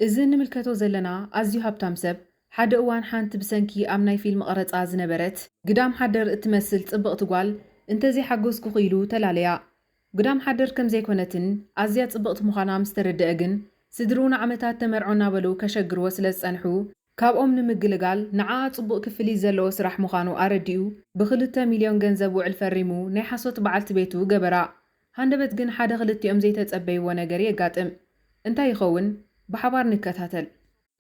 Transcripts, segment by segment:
እዚ እንምልከቶ ዘለና ኣዝዩ ሃብታም ሰብ፣ ሓደ እዋን ሓንቲ ብሰንኪ ኣብ ናይ ፊልም ቐረጻ ዝነበረት፣ ግዳም ሓደር እትመስል ጽብቕቲ ጓል እንተዘይሓጎስኩኺ ኢሉ ተላለያ። ግዳም ሓደር ከም ዘይኮነትን ኣዝያ ጽብቕቲ ምዃና ምስ ተረድኣ ግን፣ ስድርኡ ንዓመታት ተመርዖ እናበሉ ከሸግርዎ ስለ ዝጸንሑ፣ ካብኦም ንምግልጋል ንዓኣ ጽቡቕ ክፍሊት ዘለዎ ስራሕ ምዃኑ ኣረዲኡ ብኽልተ ሚልዮን ገንዘብ ውዕል ፈሪሙ ናይ ሓሶት በዓልቲ ቤቱ ገበራ። ሃንደበት ግን ሓደ ክልቲኦም ዘይተጸበይዎ ነገር የጋጥም። እንታይ ይኸውን? ብሓባር ንከታተል።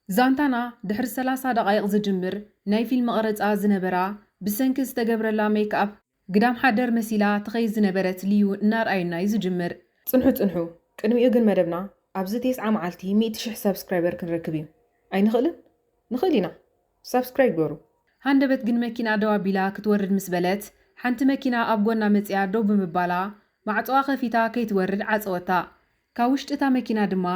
ዛንታና ድሕሪ ሰላሳ ደቓይቕ ዝጅምር ናይ ፊልም ቐረጻ ዝነበራ ብሰንኪ ዝተገብረላ ሜክኣፕ ግዳም ሓደር መሲላ ትኸይድ ዝነበረት ልዩ እናርኣዩና'ዩ ዝጅምር። ጽንሑ ጽንሑ ቅድሚኡ ግን መደብና ኣብዚ ቴስዓ መዓልቲ ሚእቲ ሽሕ ሳብስክራይበር ክንረክብ'ዩ። ኣይንኽእልን? ንኽእል ኢና! ሳብስክራይብ ግበሩ። ሃንደበት ግን መኪና ደው ኣቢላ ክትወርድ ምስ በለት ሓንቲ መኪና ኣብ ጎና መጺኣ ደው ብምባላ ማዕጾኣ ከፊታ ከይትወርድ ዓጸወታ። ካብ ውሽጢ እታ መኪና ድማ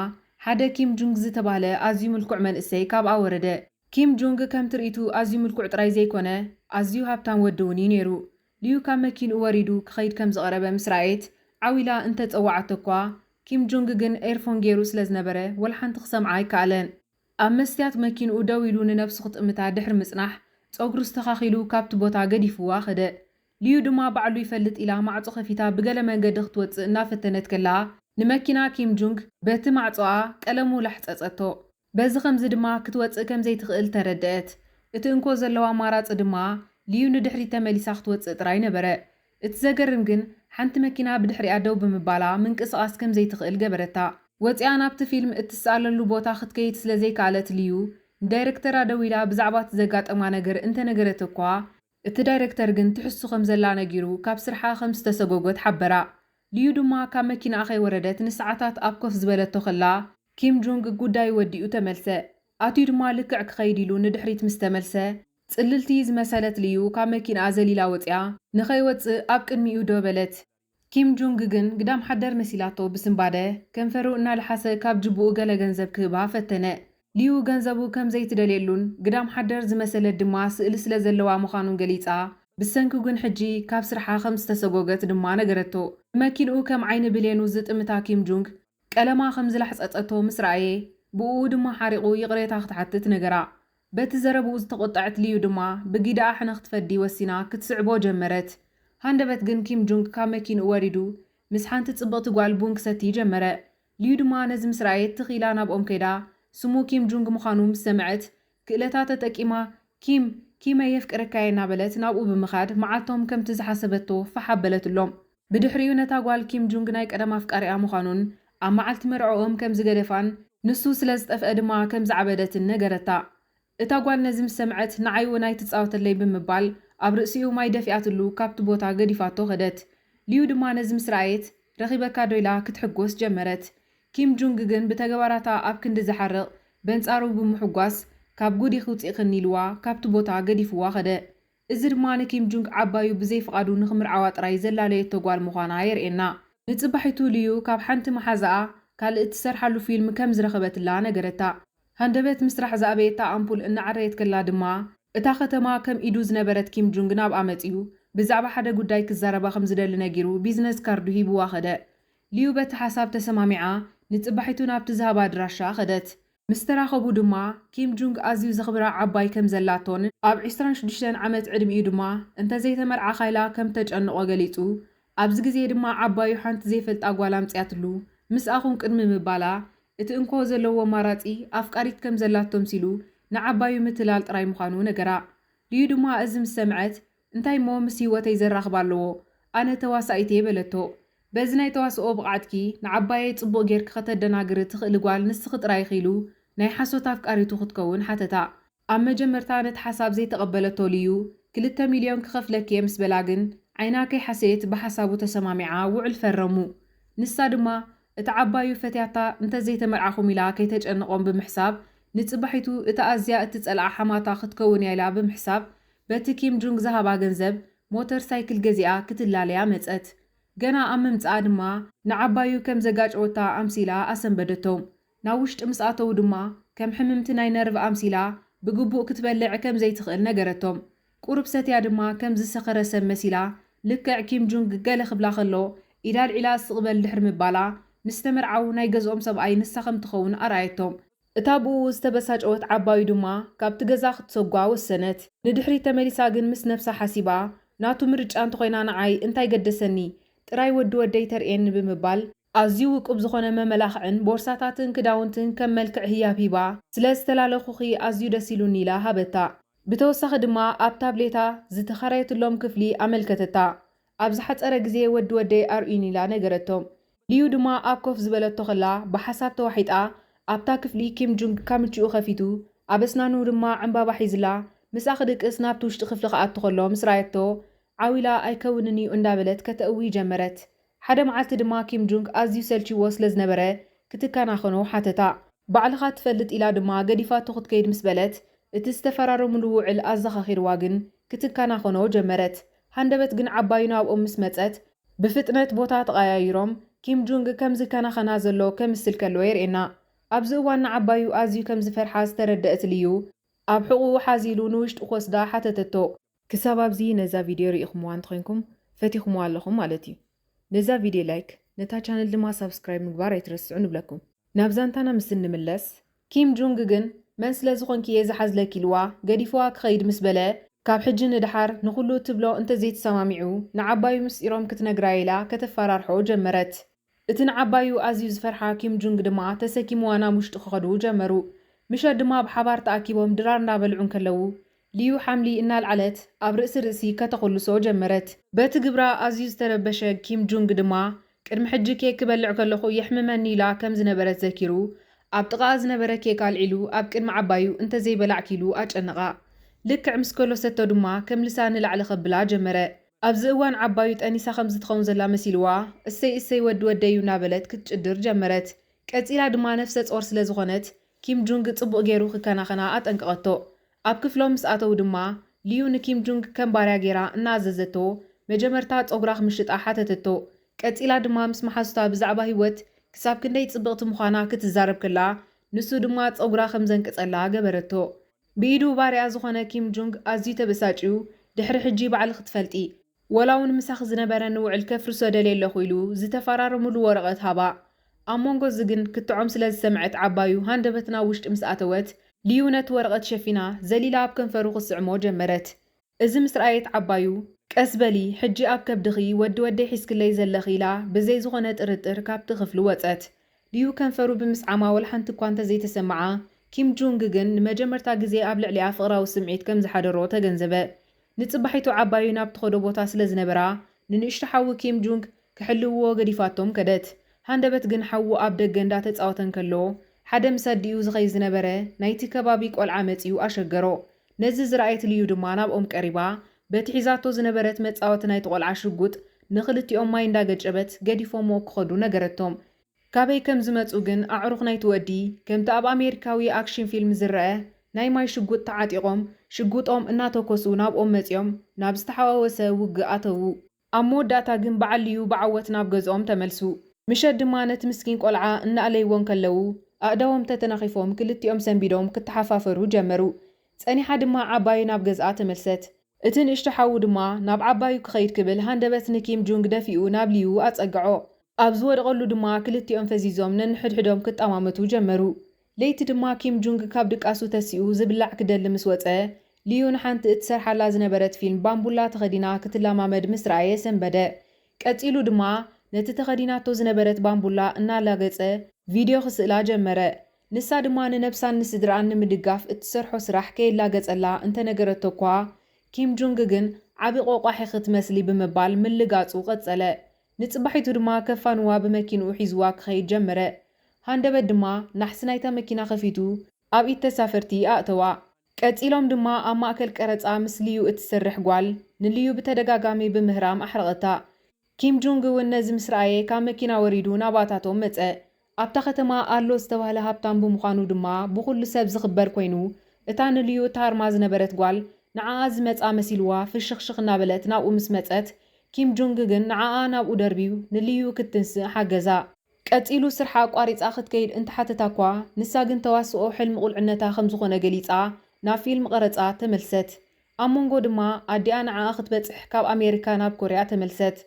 ሓደ ኪም ጁንግ ዝተባህለ ኣዝዩ ምልኩዕ መንእሰይ ካብኣ ወረደ። ኪም ጁንግ ከም ትርኢቱ ኣዝዩ ምልኩዕ ጥራይ ዘይኮነ ኣዝዩ ሃብታም ወዲ እውን እዩ ነይሩ። ልዩ ካብ መኪንኡ ወሪዱ ክኸይድ ከም ዝቐረበ ምስ ረኣየት ዓው ኢላ እንተ ጸወዓቶ'ኳ ኪም ጁንግ ግን ኤርፎን ገይሩ ስለ ዝነበረ ወላ ሓንቲ ክሰምዓ ኣይከኣለን። ኣብ መስትያት መኪንኡ ደው ኢሉ ንነብሱ ክጥምታ ድሕሪ ምጽናሕ፣ ጸጉሩ ኣስተኻኺሉ ካብቲ ቦታ ገዲፍዋ ከደ። ሊዩ ድማ ባዕሉ ይፈልጥ ኢላ ማዕጾ ከፊታ ብገለ መንገዲ ክትወጽእ እናፈተነት ከላ፣ ንመኪና ኪም ጁንግ በቲ ማዕጾኣ ቀለሙ ላሕጸጸቶ። በዚ ኸምዚ ድማ ክትወጽእ ከም ዘይትኽእል ተረደኣት። እቲ እንኮ ዘለዎ ኣማራጺ ድማ ሊዩ ንድሕሪት ተመሊሳ ክትወጽእ ጥራይ ነበረ። እቲ ዘገርም ግን ሓንቲ መኪና ብድሕሪኣ ደው ብምባላ ምንቅስቓስ ከም ዘይትኽእል ገበረታ። ወጺኣ ናብቲ ፊልም እትስኣለሉ ቦታ ክትከይድ ስለ ዘይከኣለት ልዩ ንዳይረክተራ ደዊላ ብዛዕባ እቲ ዘጋጠማ ነገር እንተ ነገረት'ኳ፣ እቲ ዳይረክተር ግን ትሕሱ ከም ዘላ ነጊሩ ካብ ስርሓ ከም ዝተሰጎጎት ሓበራ። ልዩ ድማ ካብ መኪናኣ ከይወረደት ንሰዓታት ኣብ ኮፍ ዝበለቶ ከላ፣ ኪም ጁንግ ጉዳዩ ወዲኡ ተመልሰ። ኣትዩ ድማ ልክዕ ክኸይድ ኢሉ ንድሕሪት ምስ ተመልሰ፣ ጽልልቲ ዝመሰለት ልዩ ካብ መኪንኣ ዘሊላ ወጺኣ ንኸይወጽእ ኣብ ቅድሚኡ ደው በለት። ኪም ጁንግ ግን ግዳም ሓደር መሲላቶ ብስንባደ ከንፈሩ እናለሓሰ ካብ ጅቡኡ ገለ ገንዘብ ክህባ ፈተነ። ልዩ ገንዘቡ ከም ዘይትደልየሉን ግዳም ሓደር ዝመሰለት ድማ ስእሊ ስለ ዘለዋ ምዃኑን ገሊጻ፣ ብሰንኩ ግን ሕጂ ካብ ስርሓ ከም ዝተሰጎገት ድማ ነገረቶ። ንመኪንኡ ከም ዓይኒ ብሌኑ ዝጥምታ ኪም ጁንግ፣ ቀለማ ከም ዝላሕጸጸቶ ምስ ረኣየ፣ ብእኡ ድማ ሓሪቑ ይቕሬታ ክትሓትት ነገራ። በቲ ዘረብኡ ዝተቖጠዐት ሊዩ ድማ ብጊደኣ ሕነ ክትፈዲ ወሲና ክትስዕቦ ጀመረት። ሃንደበት ግን ኪም ጁንግ ካብ መኪንኡ ወሪዱ ምስ ሓንቲ ጽብቕቲ ጓል ቡን ክሰቲ ጀመረ። ሊዩ ድማ ነዚ ምስ ረኣየት ትኽ ኢላ ናብኦም ከይዳ ስሙ ኪም ጁንግ ምዃኑ ምስ ሰምዐት ክእለታ ተጠቂማ ኪም፣ ኪመይ የፍቅረካ'የ እናበለት ናብኡ ብምኻድ መዓልቶም ከምቲ ዝሓሰበቶ ፋሕ ኣበለትሎም። ብድሕሪኡ ነታ ጓል ኪም ጁንግ ናይ ቀደም ኣፍቃሪኣ ምዃኑን ኣብ መዓልቲ መርዕኦም ከም ዝገደፋን ንሱ ስለ ዝጠፍአ ድማ ከም ዝዓበደትን ነገረታ። እታ ጓል ነዚ ምስ ሰምዐት ንዓይ'ውን ኣይትጻወተለይ ብምባል ኣብ ርእሲኡ ማይ ደፊኣትሉ ካብቲ ቦታ ገዲፋቶ ከደት። ሊዩ ድማ ነዚ ምስ ረኣየት ረኺበካዶ ኢላ ክትሕጎስ ጀመረት። ኪም ጁንግ ግን ብተግባራታ ኣብ ክንዲ ዝሓርቕ በንጻሩ ብምሑጓስ ካብ ጉድ ኢኺ ውጺእክኒ ኢልዋ ካብቲ ቦታ ገዲፍዋ ከደ። እዚ ድማ ንኪም ጁንግ ዓባዩ ብዘይ ፍቓዱ ንኽምርዓዋ ጥራይ ዘላለየቶ ጓል ምዃና የርእየና። ንጽባሒቱ ልዩ ካብ ሓንቲ መሓዛኣ ካልእ እትሰርሓሉ ፊልም ከም ዝረኸበትላ ነገረታ። ሃንደበት ምስራሕ ዝኣበየታ ኣምፑል እናዐረየት ከላ ድማ፣ እታ ከተማ ከም ኢዱ ዝነበረት ኪም ጁንግ ናብኣ መጺኡ ብዛዕባ ሓደ ጉዳይ ክዛረባ ከም ዝደሊ ነጊሩ ቢዝነስ ካርዱ ሂብዋ ከደ። ልዩ በቲ ሓሳብ ተሰማሚዓ ንጽባሒቱ ናብቲ ዝሃባ ኣድራሻ ከደት። ምስ ተራኸቡ ድማ፣ ኪም ጁንግ ኣዝዩ ዘኽብራ ዓባይ ከም ዘላቶን ኣብ ዕስራን ሽዱሽተን ዓመት ዕድሚኡ ድማ እንተ ዘይተመርዓኻ ኢላ ከም እተጨንቖ ገሊጹ። ኣብዚ ግዜ ድማ ዓባዩ ሓንቲ ዘይፈልጣ ጓል ኣምጺኣትሉ። ምስኣ ኹን ቅድሚ ምባላ፣ እቲ እንኮ ዘለዎ ኣማራጺ ኣፍቃሪት ከም ዘላቶ ኣምሲሉ ንዓባዩ ምትላል ጥራይ ምዃኑ ነገራ። ሊዩ ድማ እዚ ምስ ሰምዐት፣ እንታይ'ሞ ምስ ህይወተይ ዘራኽብ ኣለዎ? ኣነ ተዋሳኢት'የ በለቶ። በዚ ናይ ተዋስኦ ብቕዓትኪ ንዓባየይ ጽቡቕ ጌርኪ ከተደናግሪ ትኽእሊ ጓል ንስኺ ጥራይ ኢኺ ኢሉ ናይ ሓሶት ኣፍቃሪቱ ክትከውን ሓተታ። ኣብ መጀመርታ ነቲ ሓሳብ ዘይተቐበለቶ ልዩ፣ ክልተ ሚልዮን ክኸፍለኪ'የ ምስ በላ ግን ዓይና ከይሓሰየት ብሓሳቡ ተሰማሚዓ ውዕል ፈረሙ። ንሳ ድማ እቲ ዓባዩ ፈትያታ እንተዘይተመርዓኹም ኢላ ከይተጨንቖም ብምሕሳብ ንጽባሒቱ እታ ኣዝያ እትጸልኣ ሓማታ ክትከውን'ያ ኢላ ብምሕሳብ በቲ ኪም ጁንግ ዝሃባ ገንዘብ ሞተር ሳይክል ገዚኣ ክትላለያ መጸት። ገና ኣብ ምምጽኣ ድማ ንዓባዩ ከም ዘጋጨወታ ኣምሲላ ኣሰንበደቶም። ናብ ውሽጢ ምስ ኣተዉ ድማ ከም ሕምምቲ ናይ ነርቭ ኣምሲላ ብግቡእ ክትበልዕ ከም ዘይትኽእል ነገረቶም። ቁሩብ ሰትያ ድማ ከም ዝሰኸረ ሰብ መሲላ ልክዕ ኪም ጁንግ ገለ ክብላ ከሎ ኢዳ ኣልዒላ ስቕ በል ድሕሪ ምባላ ምስ ዝተመርዓዉ ናይ ገዝኦም ሰብኣይ ንሳ ከም ትኸውን ኣርኣየቶም። እታ ብእኡ ዝተበሳጨወት ዓባዩ ድማ ካብቲ ገዛ ክትሰጓ ወሰነት። ንድሕሪት ተመሊሳ ግን ምስ ነብሳ ሓሲባ፣ ናቱ ምርጫ እንተኾይና ንዓይ እንታይ ገደሰኒ፣ ጥራይ ወዲ ወደይ ተርእየኒ ብምባል፣ ኣዝዩ ውቁብ ዝኾነ መመላኽዕን ቦርሳታትን ክዳውንትን ከም መልክዕ ህያብ ሂባ፣ ስለ ዝተላለኹኺ ኣዝዩ ደስ ኢሉኒ ኢላ ሃበታ። ብተወሳኺ ድማ ኣብ ታብሌታ ዝተኸራየትሎም ክፍሊ ኣመልከተታ። ኣብ ዝሓጸረ ግዜ ወዲ ወደይ ኣርእዩኒ ኢላ ነገረቶ። ሊዩ ድማ ኣብ ኮፍ ዝበለቶ ከላ ብሓሳብ ተዋሒጣ ኣብታ ክፍሊ ኪም ጁንግ ካምችኡ ከፊቱ ኣብ ኣስናኑ ድማ ዕንባባ ሒዝላ ምስኣ ክድቅስ ናብቲ ውሽጢ ክፍሊ ክኣቱ ከሎ ምስ ራኣየቶ ዓው ኢላ ኣይከውንን እዩ እንዳበለት ከተእዊ ጀመረት። ሓደ መዓልቲ ድማ ኪም ጁንግ ኣዝዩ ሰልቺዎ ስለ ዝነበረ ክትከናኸኖ ሓተታ። ባዕልኻ ትፈልጥ ኢላ ድማ ገዲፋቶ ክትከይድ ምስ በለት እቲ ዝተፈራረምሉ ውዕል ኣዘኻኺርዋ ግን ክትከናኸኖ ጀመረት። ሃንደበት ግን ዓባዩ ናብኦም ምስ መጸት፣ ብፍጥነት ቦታ ተቐያይሮም፣ ኪም ጁንግ ከም ዝከናኸና ዘሎ ከምስል ከሎ የርእየና። ኣብዚ እዋን ንዓባዩ ኣዝዩ ከም ዝፈርሓ ዝተረደእት ልዩ፣ ኣብ ሕቝኡ ሓዝ ኢሉ ንውሽጢ ክወስዳ ሓተተቶ። ክሳብ ኣብዚ ነዛ ቪድዮ ርኢኹምዋ እንተዄንኩም፣ ፈቲኹምዋ ኣለኹም ማለት እዩ። ነዛ ቪድዮ ላይክ ነታ ቻነል ድማ ሳብስክራይብ ምግባር ኣይትረስዑ ንብለኩም። ናብ ዛንታና ምስ እንምለስ ኪም ጁንግ ግን መን ስለ ዝኾንኪ እየ ዝሓዝለኪ ኢልዋ ገዲፍዋ ክኸይድ ምስ በለ ካብ ሕጂ ንደሓር ንኹሉ እትብሎ እንተዘይተሰማሚዑ ንዓባዩ ምስጢሮም ክትነግራ ኢላ ከተፈራርሖ ጀመረት። እቲ ንዓባዩ ኣዝዩ ዝፈርሓ ኪም ጁንግ ድማ ተሰኪምዋ ናብ ውሽጢ ክኸዱ ጀመሩ። ምሸት ድማ ብሓባር ተኣኪቦም ድራር እንዳበልዑ እንከለዉ ሊዩ ሓምሊ እናልዓለት ኣብ ርእሲ ርእሲ ከተኹልሶ ጀመረት። በቲ ግብራ ኣዝዩ ዝተረበሸ ኪም ጁንግ ድማ፣ ቅድሚ ሕጂ ኬክ ክበልዕ ከለኹ የሕምመኒ ኢላ ከም ዝነበረት ዘኪሩ፣ ኣብ ጥቓኣ ዝነበረ ኬክ ኣልዒሉ ኣብ ቅድሚ ዓባዩ እንተዘይበላዕኪ ኢሉ ኣጨነቓ። ልክዕ ምስ ከሎሰቶ ድማ ከምልሳ ንላዕሊ ከብላ ጀመረ። ኣብዚ እዋን ዓባዩ ጠኒሳ ከም ዝትኸውን ዘላ መሲልዋ፣ እሰይ እሰይ ወዲ ወደይ'ዩ እናበለት ክትጭድር ጀመረት። ቀጺላ ድማ ነፍሰ ጾር ስለ ዝኾነት፣ ኪም ጁንግ ጽቡቕ ገይሩ ክከናኸና ኣጠንቀቐቶ። ኣብ ክፍሎም ምስ ኣተዉ ድማ፣ ሊዩ ንኪም ጁንግ ከም ባርያ ገይራ እናኣዘዘቶ፣ መጀመርታ ጸጕራ ክምሽጣ ሓተተቶ። ቀጺላ ድማ ምስ መሓዙታ ብዛዕባ ህይወት ክሳብ ክንደይ ጽብቕቲ ምዃና ክትዛረብ ከላ፣ ንሱ ድማ ጸጕራ ከም ዘንቅጸላ ገበረቶ። ብኢዱ ባርያ ዝዀነ ኪም ጁንግ ኣዝዩ ተበሳጭዩ፣ ድሕሪ ሕጂ ባዕልኺ ትፈልጢ! ወላውን ምሳኺ ዝነበረኒ ውዕል ከፍርሶ ደልየ ኣለኹ ኢሉ ዝተፈራረምሉ ወረቐት ሃባ። ኣብ መንጎዚ ግን ክትዖም ስለ ዝሰምዐት ዓባዩ ሃንደበት ናብ ውሽጢ ምስ ኣተወት፣ ሊዩ ነቲ ወረቐት ሸፊና ዘሊላ ኣብ ከንፈሩ ክትስዕሞ ጀመረት። እዚ ምስ ረኣየት ዓባዩ። ቀስ በሊ ሕጂ ኣብ ከብድኺ ወዲ ወደይ ሒዝክለይ ዘለኺ ኢላ ብዘይ ዝኾነ ጥርጥር ካብቲ ክፍሊ ወጸት። ሊዩ ከንፈሩ ብምስዓማ ወላሓንቲ እኳ እንተዘይተሰምዓ፣ ኪም ጁንግ ግን ንመጀመርታ ግዜ ኣብ ልዕሊኣ ፍቕራዊ ስምዒት ከም ዝሓደሮ ተገንዘበ። ንጽባሒቱ ዓባዩ ናብ ትኸዶ ቦታ ስለ ዝነበራ፣ ንንእሽቶ ሓዉ ኪም ጁንግ ክሕልውዎ ገዲፋቶም ከደት። ሃንደበት ግን ሓዉ ኣብ ደገ እንዳ ተጻወተ እንከሎ፣ ሓደ ምስ ኣዲኡ ዝኸይድ ዝነበረ ናይቲ ከባቢ ቆልዓ መጺኡ ኣሸገሮ። ነዚ ዝረኣየት ልዩ ድማ ናብኦም ቀሪባ፣ በቲ ሒዛቶ ዝነበረት መጻወቲ ናይቲ ቆልዓ ሽጉጥ ንኽልቲኦም ማይ እንዳ ገጨበት ገዲፎምዎ ክኸዱ ነገረቶም። ካበይ ከም ዝመጹ ግን ኣዕሩኽ ናይቲ ወዲ፣ ከምቲ ኣብ ኣሜሪካዊ ኣክሽን ፊልም ዝረኣ፣ ናይ ማይ ሽጉጥ ተዓጢቖም፣ ሽጉጦም እናተኮሱ ናብኦም መጺኦም፣ ናብ ዝተሓዋወሰ ውግእ ኣተዉ። ኣብ መወዳእታ ግን ብዓልዩ ብዓወት ናብ ገዝኦም ተመልሱ። ምሸት ድማ ነቲ ምስኪን ቆልዓ እናኣለይዎ እንከለዉ፣ ኣእዳዎም ተተናኺፎም ክልቲኦም ሰንቢዶም ክተሓፋፈሩ ጀመሩ። ጸኒሓ ድማ ዓባየይ ናብ ገዝኣ ተመልሰት። እቲ ንእሽቶ ሓዉ ድማ ናብ ዓባዩ ክኸይድ ክብል ሃንደበት ንኪም ጁንግ ደፊኡ ናብ ሊዩ ኣጸግዖ። ኣብ ዝወድቐሉ ድማ ክልቲኦም ፈዚዞም ነንሕድሕዶም ክጠማመቱ ጀመሩ። ለይቲ ድማ ኪም ጁንግ ካብ ድቃሱ ተሲኡ ዝብላዕ ክደሊ ምስ ወጸ፣ ሊዩ ንሓንቲ እትሰርሓላ ዝነበረት ፊልም ባምቡላ ተኸዲና ክትለማመድ ምስ ረኣየ ሰንበደ። ቀጺሉ ድማ ነቲ ተኸዲናቶ ዝነበረት ባምቡላ እናላገጸ ቪድዮ ክስእላ ጀመረ። ንሳ ድማ ንነብሳን ንስድርኣን ንምድጋፍ እትሰርሖ ስራሕ ከየላገጸላ እንተነገረቶ'ኳ፣ ኪም ጁንግ ግን ዓቢ ቆቋሕ ኢኺ ትመስሊ ብምባል ምልጋጹ ቀጸለ። ንጽባሒቱ ድማ ከፋንዋ ብመኪንኡ ሒዝዋ ክኸይድ ጀመረ። ሃንደበት ድማ ናሕሲ ናይታ መኪና ከፊቱ ኣብ ኢድ ተሳፈርቲ ኣእተዋ። ቀጺሎም ድማ ኣብ ማእከል ቀረጻ ምስ ልዩ እትሰርሕ ጓል ንልዩ ብተደጋጋሚ ብምህራም ኣሕረቐታ። ኪም ጁንግ እውን ነዚ ምስ ረኣየ ካብ መኪና ወሪዱ ናባታቶም መጸ። ኣብታ ከተማ ኣሎ ዝተባህለ ሃብታም ብምዃኑ ድማ ብኹሉ ሰብ ዝኽበር ኮይኑ፣ እታ ንልዩ እትሃርማ ዝነበረት ጓል ንዓኣ ዝመጽኣ መሲልዋ ፍሽኽሽኽ እናበለት ናብኡ ምስ መጸት፣ ኪም ጁንግ ግን ንዓኣ ናብኡ ደርብዩ ንልዩ ክትትንስእ ሓገዛ። ቀጺሉ ስርሓ ኣቋሪጻ ክትከይድ እንተሓተታ'ኳ፣ ንሳ ግን ተዋስኦ ሕልሚ ቁልዕነታ ከምዝኾነ ገሊጻ ናብ ፊልም ቐረጻ ተመልሰት። ኣብ መንጎ ድማ ኣዲኣ ንዓኣ ክትበጽሕ ካብ ኣሜሪካ ናብ ኮርያ ተመልሰት።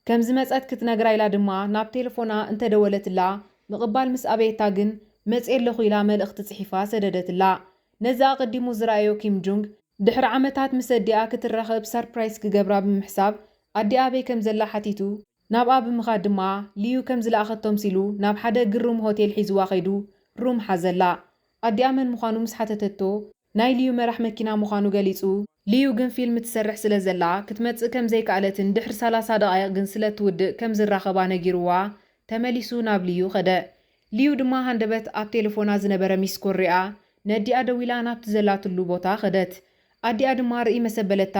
ከም ዝመጸት ክትነግራ ኢላ ድማ ናብ ቴለፎና እንተ ደወለትላ ምቕባል ምስ ኣበየታ ግን መጺኤ ኣለኹ ኢላ መልእኽቲ ጽሒፋ ሰደደትላ። ነዚ ኣቐዲሙ ዝረኣዮ ኪም ጁንግ፣ ድሕሪ ዓመታት ምስ ኣዲኣ ክትራኸብ ሳርፕራይዝ ክገብራ ብምሕሳብ ኣዲኣ ኣበይ ከም ዘላ ሓቲቱ ናብኣ ብምኻድ ድማ ሊዩ ከም ዝለኣኸቶ ኣምሲሉ ናብ ሓደ ግሩም ሆቴል ሒዝዋ ከይዱ ሩም ሓዘላ። ኣዲኣ መን ምዃኑ ምስ ሓተተቶ፣ ናይ ልዩ መራሕ መኪና ምዃኑ ገሊጹ። ልዩ ግን ፊልም ትሰርሕ ስለዘላ ክትመጽእ ከምዘይከኣለትን ድሕሪ ሰላሳ ደቓይቕ ግን ስለእትውድእ ከምዝራኸባ ነጊሩዋ ተመሊሱ ናብ ልዩ ከደ። ልዩ ድማ ሃንደበት ኣብ ቴለፎና ዝነበረ ሚስኮል ሪኣ ነዲኣ ደዊላ ናብቲ ዘላትሉ ቦታ ከደት። ኣዲኣ ድማ ርእይ መሰበለታ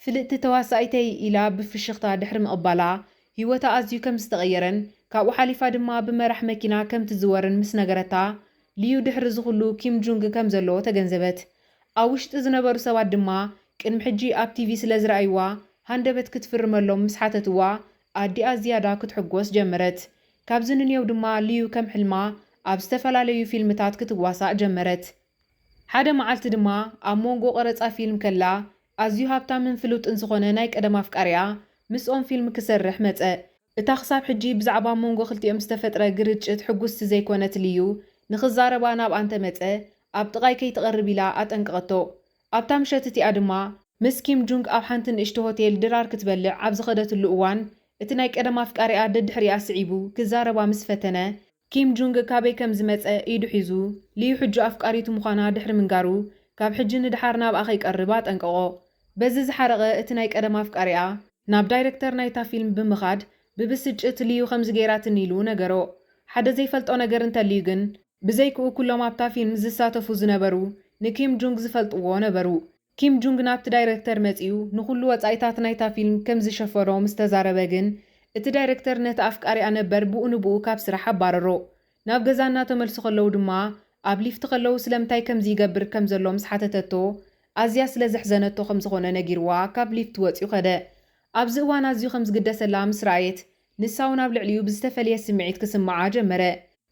ፍልጥቲ ተዋሳኢተይ ኢላ ብፍሽኽታ ድሕሪ ምቕባላ ህይወታ ኣዝዩ ከምዝተቐየረን ካብኡ ሓሊፋ ድማ ብመራሕ መኪና ከምትዝወርን ምስነገረታ ሊዩ ድሕሪ እዚ ኹሉ ኪም ጁንግ ከም ዘለዎ ተገንዘበት። ኣብ ውሽጢ ዝነበሩ ሰባት ድማ ቅድሚ ሕጂ ኣብ ቲቪ ስለ ዝረኣይዋ ሃንደበት ክትፍርመሎም ምስ ሓተትዋ ኣዲኣ ዝያዳ ክትሕጎስ ጀመረት። ካብዚ ንንየው ድማ ሊዩ ከም ሕልማ ኣብ ዝተፈላለዩ ፊልምታት ክትዋሳእ ጀመረት። ሓደ መዓልቲ ድማ ኣብ ሞንጎ ቀረጻ ፊልም ከላ ኣዝዩ ሃብታምን ፍሉጥን ዝኾነ ናይ ቀደም ኣፍቃሪኣ ምስኦም ፊልም ክሰርሕ መጸ። እታ ክሳብ ሕጂ ብዛዕባ ኣብ መንጎ ክልቲኦም ዝተፈጥረ ግርጭት ሕጉስቲ ዘይኮነት ሊዩ፣ ንኽዛረባ ናብኣ እንተመጸ ኣብ ጥቓይ ከይትቐርብ ኢላ ኣጠንቀቐቶ። ኣብታ ምሸት እቲኣ ድማ፣ ምስ ኪም ጁንግ ኣብ ሓንቲ ንእሽቶ ሆቴል ድራር ክትበልዕ ኣብ ዝኸደትሉ እዋን፣ እቲ ናይ ቀደም ኣፍቃሪኣ ደድሕሪኣ ስዒቡ ክዛረባ ምስ ፈተነ፣ ኪም ጁንግ ካበይ ከም ዝመጸ ኢዱ ሒዙ ሊዩ ሕጁ ኣፍቃሪቱ ምዃና ድሕሪ ምንጋሩ፣ ካብ ሕጂ ንደሓር ናብኣ ከይቀርብ ኣጠንቀቖ። በዚ ዝሓረቐ እቲ ናይ ቀደም ኣፍቃሪኣ፣ ናብ ዳይረክተር ናይታ ፊልም ብምኻድ ብብስጭት ሊዩ ከምዚ ገይራትኒ ኢሉ ነገሮ። ሓደ ዘይፈልጦ ነገር እንተልዩ ግን፣ ብዘይክኡ ኩሎም ኣብታ ፊልም ዝሳተፉ ዝነበሩ ንኪም ጁንግ ዝፈልጥዎ ነበሩ። ኪም ጁንግ ናብቲ ዳይረክተር መጺኡ ንኹሉ ወጻኢታት ናይታ ፊልም ከም ዝሸፈኖ ምስ ተዛረበ ግን፣ እቲ ዳይረክተር ነቲ ኣፍቃሪኣ ነበር ብኡ ንብኡ ካብ ስራሕ ኣባረሮ። ናብ ገዛ እናተመልሱ ከለዉ ድማ ኣብ ሊፍት ከለዉ ስለምንታይ ከምዚ ይገብር ከም ዘሎ ምስ ሓተተቶ ኣዝያ ስለ ዘሕዘነቶ ከም ዝኾነ ነጊርዋ ካብ ሊፍት ወጺኡ ከደ። ኣብዚ እዋን ኣዝዩ ከም ዝግደሰላ ምስ ረኣየት ንሳ'ውን ኣብ ልዕሊኡ ብዝተፈለየ ስምዒት ክስምዓ ጀመረ።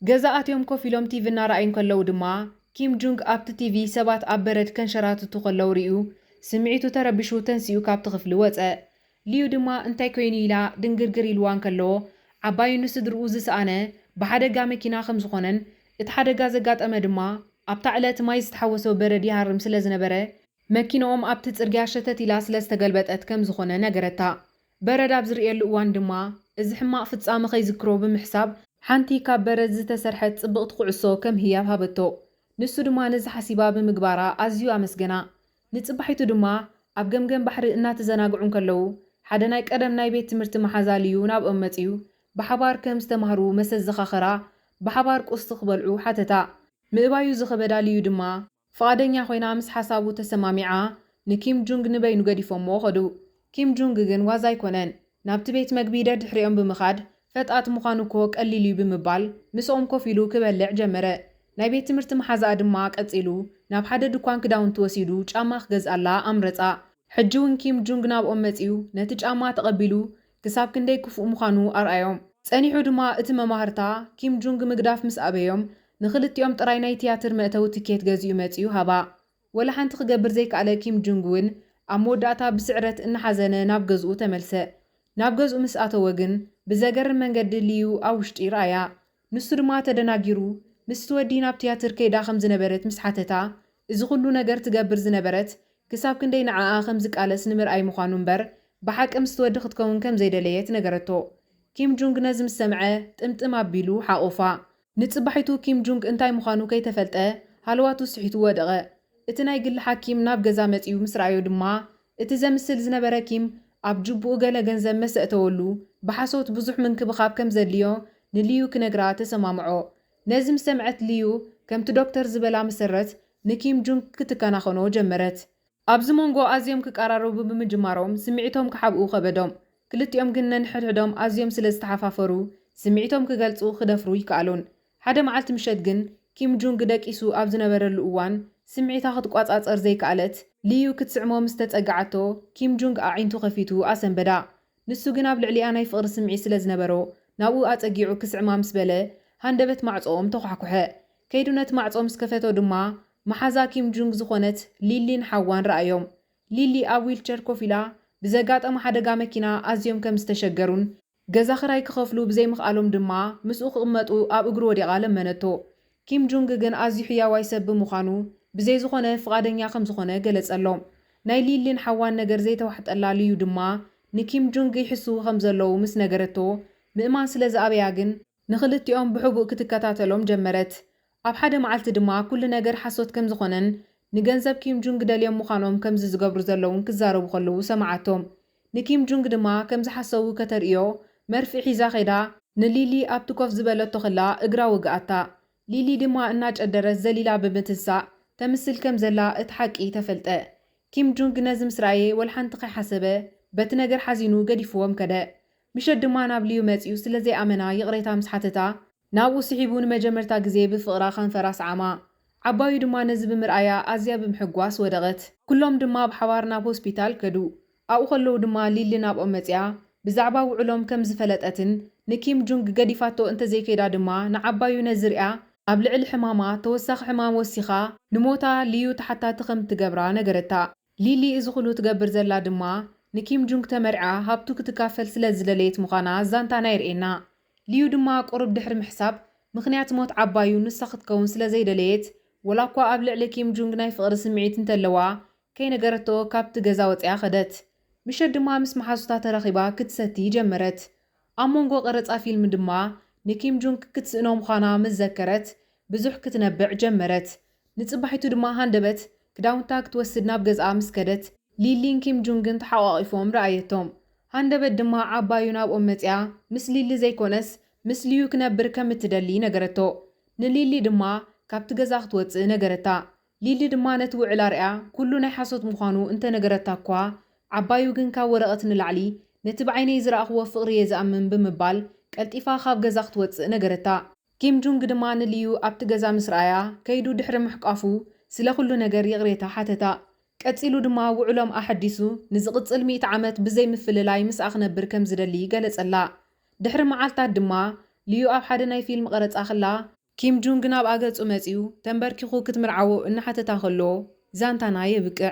ገዛ ኣትዮም ኮፍ ኢሎም ቲቪ እናረኣዩ እንከለዉ ድማ፣ ኪም ጁንግ ኣብቲ ቲቪ ሰባት ኣብ በረድ ከንሸራትቱ ከለዉ ርእዩ። ስምዒቱ ተረቢሹ ተንሲኡ ካብቲ ክፍሊ ወጸ። ሊዩ ድማ እንታይ ኰይኑ ኢላ ድንግርግር ኢሉዋ እንከሎ፣ ዓባዩን ንስድርኡ ዝሰኣነ ብሓደጋ መኪና ከም ዝዀነን እቲ ሓደጋ ዘጋጠመ ድማ ኣብታ ዕለት ማይ ዝተሓወሶ በረድ ይሃርም ስለ ዝነበረ፣ መኪንኦም ኣብቲ ጽርግያ ሸተት ኢላ ስለ ዝተገልበጠት ከም ዝዀነ ነገረታ። በረድ ኣብ ዝርእየሉ እዋን ድማ፣ እዚ ሕማቕ ፍጻመ ከይዝክሮ ብምሕሳብ፣ ሓንቲ ካብ በረድ ዝተሰርሐት ጽብቕቲ ኩዕሶ ከም ህያብ ሃበቶ፣ ንሱ ድማ ነዚ ሓሲባ ብምግባራ ኣዝዩ ኣመስገና። ንጽባሒቱ ድማ፣ ኣብ ገምገም ባሕሪ እናተዘናግዑ እንከለዉ፣ ሓደ ናይ ቀደም ናይ ቤት ትምህርቲ መሓዛ ልዩ ናብኦም መጺኡ ብሓባር ከም ዝተማህሩ መሰዘኻኸራ፣ ብሓባር ቁርሲ ክበልዑ ሓተታ። ምእባዩ ዝኸበዳ ልዩ ድማ፣ ፍቓደኛ ኮይና ምስ ሓሳቡ ተሰማሚዓ ንኪም ጁንግ ንበይኑ ገዲፎምዎ ከዱ። ኪም ጁንግ ግን ዋዛ ኣይኮነን። ናብቲ ቤት መግቢ ደድሕሪኦም ብምኻድ ፈጣጥ ምዃኑ እኮ ቀሊል'ዩ ብምባል ምስኦም ኮፍ ኢሉ ክበልዕ ጀመረ። ናይ ቤት ትምህርቲ መሓዛኣ ድማ ቀጺሉ ናብ ሓደ ድኳን ክዳውንቲ ወሲዱ ጫማ ክገዝኣላ ኣምረጻ። ሕጂ'ውን ኪም ጁንግ ናብኦም መጺኡ ነቲ ጫማ ተቐቢሉ ክሳብ ክንደይ ክፉእ ምዃኑ ኣርኣዮም። ጸኒሑ ድማ እቲ መማህርታ፣ ኪም ጁንግ ምግዳፍ ምስ ኣበዮም፣ ንኽልቲኦም ጥራይ ናይ ትያትር መእተዊ ትኬት ገዚኡ መጺኡ ሃባ። ወላ ሓንቲ ክገብር ዘይከኣለ ኪም ጁንግ ውን፣ ኣብ መወዳእታ ብስዕረት እናሓዘነ ናብ ገዝኡ ተመልሰ። ናብ ገዝኡ ምስ ኣተወ ግን፣ ብዘገርም መንገዲ ሊዩ ኣብ ውሽጢ ረኣያ። ንሱ ድማ ተደናጊሩ ምስቲ ወዲ ናብ ትያትር ከይዳ ከም ዝነበረት ምስ ሓተታ፣ እዚ ኹሉ ነገር ትገብር ዝነበረት ክሳብ ክንደይ ንዓኣ ከም ዝቃለስ ንምርኣይ ምዃኑ እምበር ብሓቂ ምስቲ ወዲ ክትከውን ከም ዘይደለየት ነገረቶ። ኪም ጁንግ ነዚ ምስ ሰምዐ ጥምጥም ኣቢሉ ሓቖፋ። ንጽባሒቱ ኪም ጁንግ እንታይ ምዃኑ ከይተፈልጠ ሃለዋቱ ስሒቱ ወደቐ። እቲ ናይ ግሊ ሓኪም ናብ ገዛ መጺኡ ምስ ረኣዮ ድማ እቲ ዘምስል ዝነበረ ኪም ኣብ ጁቡኡ ገለ ገንዘብ መሰ እተወሉ፣ ብሓሶት ብዙሕ ምንክብኻብ ከም ዘድልዮ ንሊዩ ክነግራ ተሰማምዖ። ነዚ ምስ ሰምዐት ሊዩ፣ ከምቲ ዶክተር ዝበላ መሰረት ንኪም ጁንግ ክትከናኸኖ ጀመረት። ኣብዚ ሞንጎ ኣዝዮም ክቀራረቡ ብምጅማሮም ስምዒቶም ክሓብኡ ከበዶም። ክልቲኦም ግን ነንሕድሕዶም ኣዝዮም ስለ ዝተሓፋፈሩ ስምዒቶም ክገልጹ ክደፍሩ ኣይከኣሉን። ሓደ መዓልቲ ምሸት ግን፣ ኪም ጁንግ ደቂሱ ኣብ ዝነበረሉ እዋን፣ ስምዒታ ክትቋጻጸር ዘይከኣለት ሊዩ ክትስዕሞ ምስ ተጸግዓቶ፣ ኪም ጁንግ ኣዒንቱ ከፊቱ ኣሰንበዳ። ንሱ ግን ኣብ ልዕሊኣ ናይ ፍቕሪ ስምዒት ስለ ዝነበሮ፣ ናብኡ ኣጸጊዑ ክስዕማ ምስ በለ፣ ሃንደበት ማዕጾኦም ተዃሕኩሐ። ከይዱ ነቲ ማዕጾ ምስ ከፈቶ ድማ፣ መሓዛ ኪም ጁንግ ዝኾነት ሊሊን ሓዋን ረኣዮም። ሊሊ ኣብ ዊልቸር ኮፍ ኢላ፣ ብዘጋጠማ ሓደጋ መኪና ኣዝዮም ከም ዝተሸገሩን ገዛ ክራይ ክኸፍሉ ብዘይምኽኣሎም ድማ ምስኡ ክቕመጡ ኣብ እግሩ ወዲቓ ለመነቶ። ኪም ጁንግ ግን ኣዝዩ ሕያዋይ ሰብ ብምዃኑ ብዘይ ዝኾነ ፍቓደኛ ከም ዝኾነ ገለጸሎም። ናይ ሊን ሊን ሓዋን ነገር ዘይተዋሕጠላ ሊዩ ድማ ንኪም ጁንግ ይሕስዉ ከም ዘለዉ ምስ ነገረቶ ምእማን ስለ ዝኣበያ ግን፣ ንኽልቲኦም ብሕቡእ ክትከታተሎም ጀመረት። ኣብ ሓደ መዓልቲ ድማ ኩሉ ነገር ሓሶት ከም ዝኾነን ንገንዘብ ኪም ጁንግ ደልዮም ምዃኖም ከምዚ ዝገብሩ ዘለዉን ክዛረቡ ከለዉ ሰምዓቶም። ንኪም ጁንግ ድማ ከም ዝሓሰዉ ከተርእዮ መርፍእ ሒዛ ከይዳ፣ ንሊሊ ኣብቲ ኮፍ ዝበለቶ ከላ እግራ ወግኣታ፣ ሊሊ ድማ እናጨደረት ዘሊላ ብምትንሳእ ተምስል ከም ዘላ እቲ ሓቂ ተፈልጠ። ኪም ጁንግ ነዚ ምስ ረኣየ ወልሓንቲ ከይሓሰበ በቲ ነገር ሓዚኑ ገዲፍዎም ከደ። ምሸት ድማ ናብ ልዩ መጺኡ ስለ ዘይኣመና ይቕሬታ ምስ ሓተታ፣ ናብኡ ስሒቡ ንመጀመርታ ግዜ ብፍቕራ ከንፈራ ኣስዓማ። ዓባዩ ድማ ነዚ ብምርኣያ ኣዝያ ብምሕጓስ ወደቐት። ኩሎም ድማ ብሓባር ናብ ሆስፒታል ከዱ። ኣብኡ ከለዉ ድማ ሊሊ ናብኦም መጺኣ ብዛዕባ ውዕሎም ከም ዝፈለጠትን ንኪም ጁንግ ገዲፋቶ እንተ ዘይከይዳ ድማ ንዓባዩ ነዚ ርእያ ኣብ ልዕሊ ሕማማ ተወሳኺ ሕማም ወሲኻ ንሞታ ልዩ ተሓታቲ ከም እትገብራ ነገረታ። ሊሊ እዚ ኹሉ ትገብር ዘላ ድማ ንኪም ጁንግ ተመርዕያ ሃብቱ ክትካፈል ስለ ዝደለየት ምዃና ዛንታና የርእየና። ሊዩ ድማ ቁሩብ ድሕሪ ምሕሳብ ምኽንያት ሞት ዓባዩ ንሳ ክትከውን ስለ ዘይደለየት ወላኳ ኣብ ልዕሊ ኪም ጁንግ ናይ ፍቕሪ ስምዒት እንተለዋ ከይነገረቶ ካብቲ ገዛ ወጺኣ ከደት። ምሸት ድማ ምስ መሓዙታ ተራኺባ ክትሰቲ ጀመረት። ኣብ መንጎ ቀረጻ ፊልም ድማ ንኪም ጁንግ ክትስእኖ ምዃና ምስ ዘከረት ብዙሕ ክትነብዕ ጀመረት። ንጽባሒቱ ድማ ሃንደበት ክዳውንታ ክትወስድ ናብ ገዝኣ ምስ ከደት ሊሊን ኪም ጁንግን ተሓቛቒፎም ረኣየቶም። ሃንደበት ድማ ዓባዩ ናብኦም መጺኣ ምስ ሊሊ ዘይኮነስ ምስ ሊዩ ክነብር ከም እትደሊ ነገረቶ። ንሊሊ ድማ ካብቲ ገዛ ክትወጽእ ነገረታ። ሊሊ ድማ ነቲ ውዕል ኣርእያ ኩሉ ናይ ሓሶት ምዃኑ እንተነገረታ'ኳ፣ ዓባዩ ግን ካብ ወረቐት ንላዕሊ ነቲ ብዓይነይ ዝረኣኹዎ ፍቕሪ'የ ዝኣምን ብምባል ቀልጢፋ ካብ ገዛ ክትወጽእ ነገረታ። ኪም ጁንግ ድማ ንሊዩ ኣብቲ ገዛ ምስ ረኣያ፣ ከይዱ ድሕሪ ምሕቋፉ ስለ ኩሉ ነገር ይቕሬታ ሓተታ። ቀጺሉ ድማ ውዕሎም ኣሐዲሱ ንዝቕጽል ሚእቲ ዓመት ብዘይ ምፍልላይ ምስኣ ክነብር ከም ዝደሊ ገለጸላ። ድሕሪ መዓልታት ድማ፣ ሊዩ ኣብ ሓደ ናይ ፊልም ቐረጻ ክላ፣ ኪም ጁንግ ናብኣ ገጹ መጺኡ ተንበርኪኹ ክትምርዓዎ እናሓተታ ከሎ ዛንታና የብቅዕ።